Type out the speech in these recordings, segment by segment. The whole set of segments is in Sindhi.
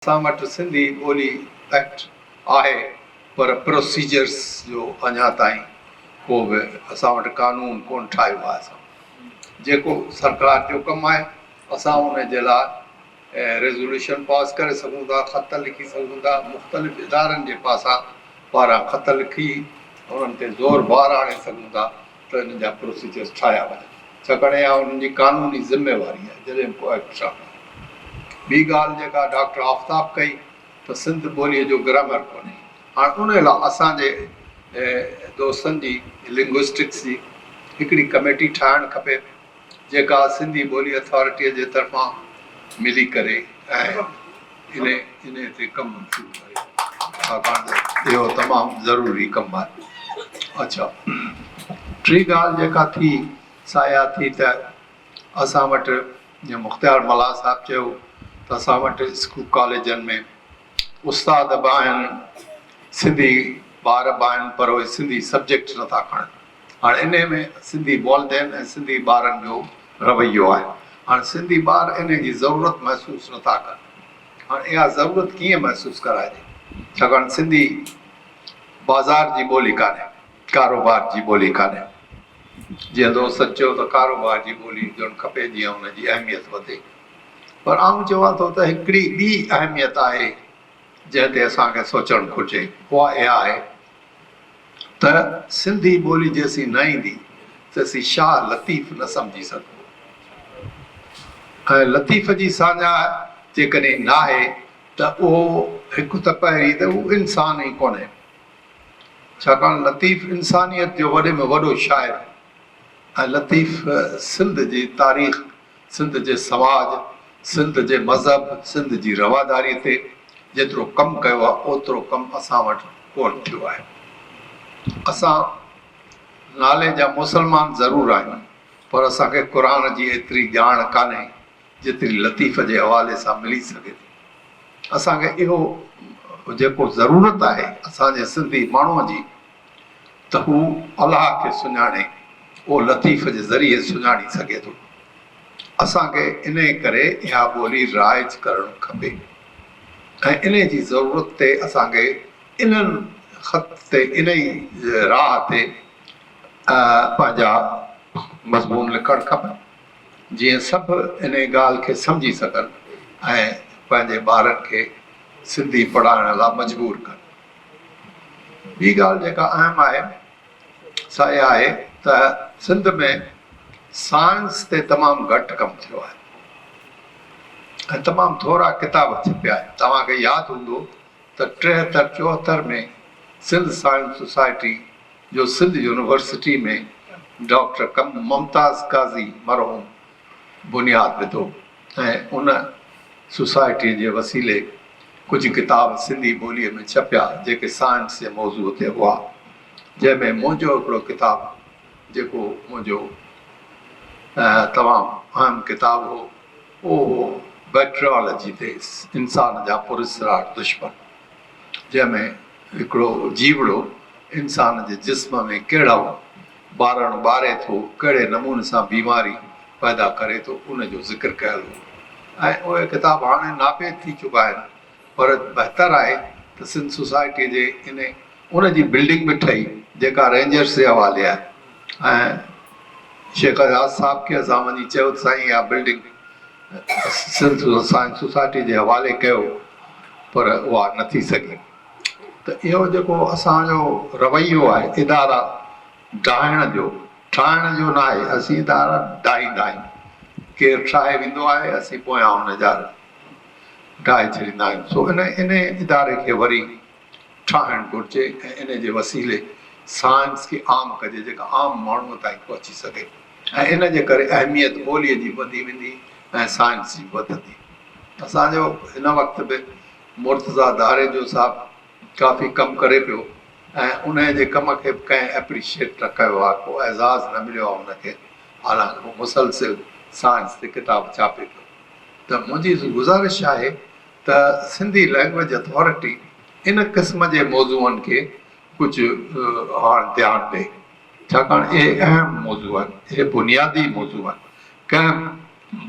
اسان وٽ سنڌي ٻولي ايڪٽ آهي پر پروسيجرز جو اڃا تائين ڪو به اسان وٽ قانون ڪونه ٺاهيو آهي اسان جيڪو سرڪار جو ڪم آهي اسان ان جي لاء ريزوليوشن پاس ڪري سگهون ٿا خط لکي سگهون ٿا مختلف ادارن جي پاسان پاران خط لکي انهن تي زور بار آڻي سگهون ٿا ته انهن جا پروسيجرز ٺاهيا وڃن ڇاڪاڻ اها انهن جي قانوني ذميواري آهي جڏهن ڪو ايڪٽ سامهون آيو. ٻي ڳالهه جيڪا ڊاڪٽر آفتاب ڪئي ته سنڌ ٻوليء جو گرامر ڪونهي هاڻ ان لاء اسان جي دوستن جي لنگوسٽڪس جي هڪڙي ڪميٽي ٺاهڻ کپي. جيڪا سنڌي ٻولي اٿارٽيء جي طرفان ملي ڪري ۽ انهيء تي ڪم شروع ڪري ڇاڪاڻ ته اهو تمام ضروري ڪم آهي. اڇا ٽي ڳالهه جيڪا ٿي سا اها ٿي ته اسان وٽ جيئن مختيار ملاح صاحب چيو ته اسان وٽ اسڪول ڪاليجن ۾ استاد به آهن سنڌي ٻار به آهن پر اهي سنڌي سبجيڪٽ نه ٿا کڻن هاڻ انهي ۾ سنڌي والدين ۽ سنڌي ٻارن جو رويو آهي هاڻ سنڌي ٻار انهي جي ضرورت محسوس نه ٿا ڪن هاڻ اها ضرورت ڪيئن محسوس ڪرائجي ڇاڪاڻ سنڌي بازار جي ٻولي ڪانهي ڪاروبار جي ٻولي ڪانهي جيئن دوستن چيو ته ڪاروبار جي ٻولي هجڻ کپي جيئن ان جي اهميت وڌي. پر آئون چوان ٿو ته هڪڙي ٻي اهميت آهي جنهن تي اسان کي سوچڻ گهرجي اها اها آهي ته سنڌي ٻولي جيسين نه ايندي تيسين شاهه لطيف نه سمجهي سگهبو ۽ لطيف جي ساڃاهه جيڪڏهن ناهي ته اهو هڪ ته پهرين ته هو انسان ئي ڪونهي ڇاڪاڻ لطيف انسانيت جو وڏي ۾ وڏو شاعر هو ۽ لطيف سنڌ جي تاريخ سنڌ جي سماج، سنڌ جي مذهب، سنڌ جي رواداري تي جيترو ڪم ڪيو آهي اوترو ڪم اسان وٽ ڪونه ٿيو آهي. اسان نالي جا مسلمان ضرور آهيون پر اسان کي قرآن جي ايتري ڄاڻ ڪانهي جيتري لطيف جي حوالي سان ملي سگهي ٿي. اسان کي اهو جيڪو ضرورت آهي اسان جي سنڌي ماڻهوء جي. ته هو الله کي سڃاڻي او لطيف جي ذريعي سڃاڻي سگهي ٿو. اسان کي انهي ڪري اها ٻولي رائج ڪرڻ کپي ۽ انهي جي ضرورت تي اسان کي انهن خط تي انهي راهه تي پنهنجا مضمون لکڻ کپن جيئن سڀ انهي ڳالهه کي سمجهي سگهن ۽ پنهنجي ٻارن کي سنڌي پڙهائڻ لا مجبور ڪن. ٻي ڳالهه جيڪا اهم آهي سا اها آهي ته سنڌ ۾ سائنس تي تمام گهٽ ڪم ٿيو آهي ۽ تمام ٿورا ڪتاب ڇپيا آهن. توهان کي ياد هوندو ته ٽيهتر چوهتر ۾ سنڌ سائنس سوسائٽي جو سنڌ يونيورسٽي ۾ ڊاڪٽر ممتاز قاضي مرحوم بنياد وڌو. ۽ ان سوسائٽيء جي وسيلي ڪجهه ڪتاب سنڌي ٻوليء ۾ ڇپيا، جيڪي سائنس جي موضوع تي هئا، جنهن ۾ منهنجو هڪڙو ڪتاب هو، جيڪو منهنجو تمام اهم ڪتاب هو، اهو هو بئڪٽريالاجي ديس، انسان جا پراسرار دشمن، جنهن ۾ هڪڙو جيوڙو انسان جي جسم ۾ ڪهڙو. ٻارڻ ٻاري ٿو، ڪهڙي نموني سان بيماري پيدا ڪري ٿو، ان جو ذڪر ڪيل هو ۽ اهي ڪتاب هاڻي ناپيد ٿي چڪا آهن پر بهتر آهي ته سنڌ سوسائٽيء جي ان ان جي بلڊنگ به ٺهي جيڪا رينجرس جي حوالي آهي ۽ شيخ اياز صاحب کي اسان وڃي چيو ته سائين اها بلڊنگ سنڌ سائنس سوسائٽيء جي حوالي ڪيو پر اها نه ٿي سگهي. ته اهو جيڪو اسان جو رويو آهي ادارا ڊاهڻ جو، ٺاهڻ جو ناهي، اسين ادارا ڊاهيندا آهيون، ڪير ٺاهي ويندو آهي اسين پويان ان جا ڊاهي ڇڏيندا آهيون، سو ان انهي اداري کي وري ٺاهڻ گهرجي ۽ ان جي وسيلي سائنس کي عام ڪجي جيڪا عام ماڻهو تائين پهچي سگهي ۽ ان جي ڪري اهميت ٻولي جي وڌي ويندي ۽ سائنس جي وڌندي. اسان جو هن وقت به مرتضيٰ ڌاري جو صاحب ڪافي ڪم ڪري پيو ۽ انهيء جي ڪم کي به ڪنهن ايپريشيٽ نه ڪيو آهي، ڪو اعزاز نه مليو آهي هن کي، حالانڪ هو مسلسل سائنس تي ڪتاب ڇاپي پيو ته منهنجي گذارش آهي ته سنڌي لئنگويج اٿارٽي ان قسم جي موضوعن کي ڪجهه هاڻ ڌيان ڏئي ڇاڪاڻ اهي اهم موضوع آهن، اهي بنيادي موضوع آهن، ڪنهن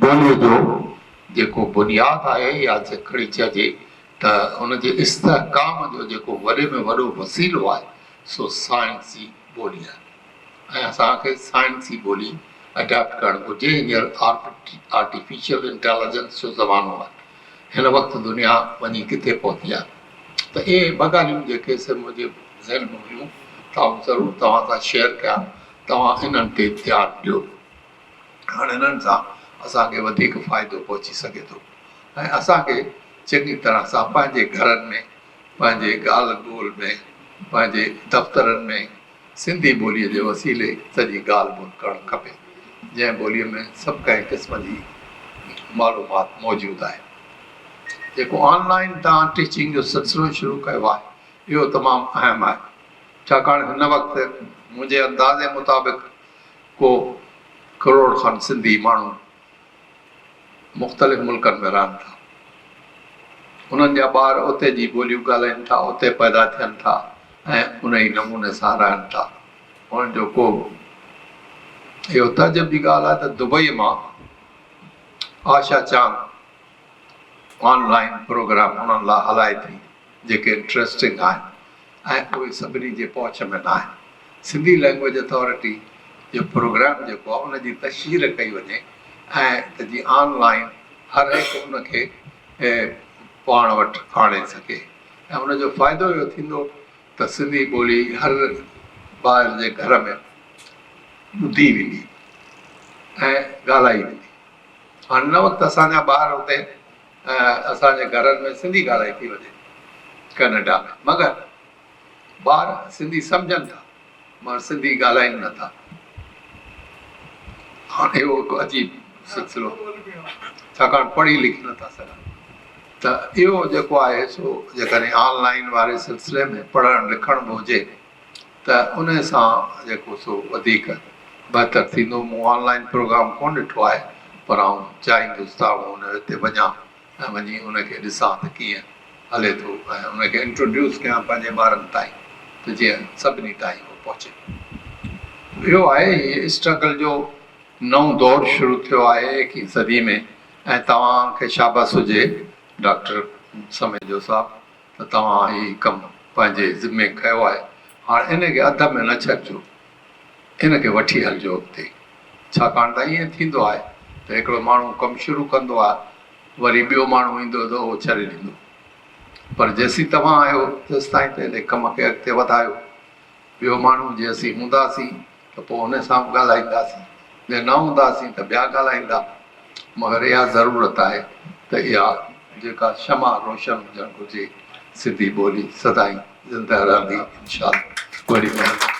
ٻوليء جو جيڪو بنياد آهي يا جيڪڏهن چئجي ته ان جي استحڪام جو جيڪو وڏي ۾ وڏو وسيلو آهي سو سائنسي ٻولي آهي ۽ اسان کي سائنسي ٻولي اڊاپٽ ڪرڻ گهرجي. هينئر آرٽيفيشل انٽيليجنس جو زمانو آهي. هن وقت دنيا وڃي ڪٿي پهتي آهي ته اهي ٻه ڳالهيون جيڪي سي منهنجي ذهن ۾ هيون، سا آئون ضرور توهان سان شيئر ڪيان، توهان انهن تي ڌيان ڏيو. هاڻ انهن سان اسان کي وڌيڪ فائدو پهچي سگهي ٿو ۽ اسان کي چڱي طرح سان پنهنجي گهرن ۾ پنهنجي ڳالهه ٻولهه ۾ پنهنجي دفترن ۾ سنڌي ٻوليء جي وسيلي سڄي ڳالهه ٻولهه ڪرڻ کپي جنهن ٻوليء ۾ سڀ ڪنهن قسم جي معلومات موجود آهي جيڪو آن لائين تان ٽيچنگ جو سلسلو شروع ڪيو آهي اهو تمام اهم آهي ڇاڪاڻ هن وقت منهنجي اندازي مطابق ڪو ڪروڙ کن سنڌي ماڻهو مختلف ملڪن ۾ رهن ٿا. انهن جا ٻار اتي جي ٻوليون ڳالهائين ٿا، اتي پيدا ٿين ٿا ۽ انهي نموني سان رهن ٿا. انهن جو ڪو اهو تعجب جي ڳالهه آهي ته دبئي مان آشا چانگ آن لائين پروگرام انهن لاء هلائي ٿي جيڪي انٽريسٽنگ آهن ۽ اهي سڀني جي پهچ ۾ ناهن. سنڌي لئنگويج اٿارٽي جو پروگرام جيڪو آهي ان جي تشهير ڪئي وڃي ۽ ته جي آن لائين هر هڪ ان کي پاڻ وٽ آڻي سگهي ۽ ان جو فائدو اهو ٿيندو ته سنڌي ٻولي هر ٻار جي گهر ۾ ٻڌي ويندي ۽ ڳالهائي ويندي. هاڻي هن وقت اسان جا ٻار اتي ۽ اسان جي گهرن ۾ سنڌي ڳالهائي ٿي وڃي ڪئناڊا ۾ مگر ٻار سنڌي سمجهن ٿا مگر سنڌي ڳالهائين نه ٿا هاڻ اهو هڪ عجيب سلسلو ڇاڪاڻ پڙهي لکي نه ٿا سگهن ته اهو جيڪو آهي سو جيڪڏهن آن لائين واري سلسلي ۾ پڙهڻ لکڻ به هجي ته ان سان جيڪو سو وڌيڪ بهتر ٿيندو. مون آن لائين پروگرام ڪونه ڏٺو آهي پر آئون چاهيندس ته آئون ان تي وڃان ۽ وڃي ان کي ڏسان ته ڪيئن هلي ٿو ۽ ان کي انٽروڊيوس ڪيان پنهنجي ٻارن تائين ته جيئن سڀني تائين اهو پهچي. اهو آهي هي اسٽرگل جو نئون دور شروع ٿيو آهي ايڪيهين صدي ۾ ۽ توهان کي شابس هجي ڊاڪٽر سميجو صاحب ته توهان هي ڪم پنهنجي ذمي ڪيو آهي، هاڻ ان کي اڌ ۾ نه ڇڏجو، ان کي وٺي هلجو اڳتي. ڇاڪاڻ ته ائين ٿيندو آهي ته هڪڙو ماڻهو ڪم شروع ڪندو آهي، وري ٻيو ماڻهو ايندو ته اهو ڇڏي ڏيندو. پر جيسين توهان آهيو، تيستائين ته ان ڪم کي اڳتي وڌايو. ٻيو ماڻهو جي اسين هونداسين ته پوء ان سان به ڳالهائينداسين، جي نه هونداسين ته ٻيا ڳالهائيندا، مگر اها ضرورت آهي ته اها جيڪا شمع روشن هجڻ گهرجي، سنڌي ٻولي سدائين زنده رهندي انشاءالله وڏي مهرباني.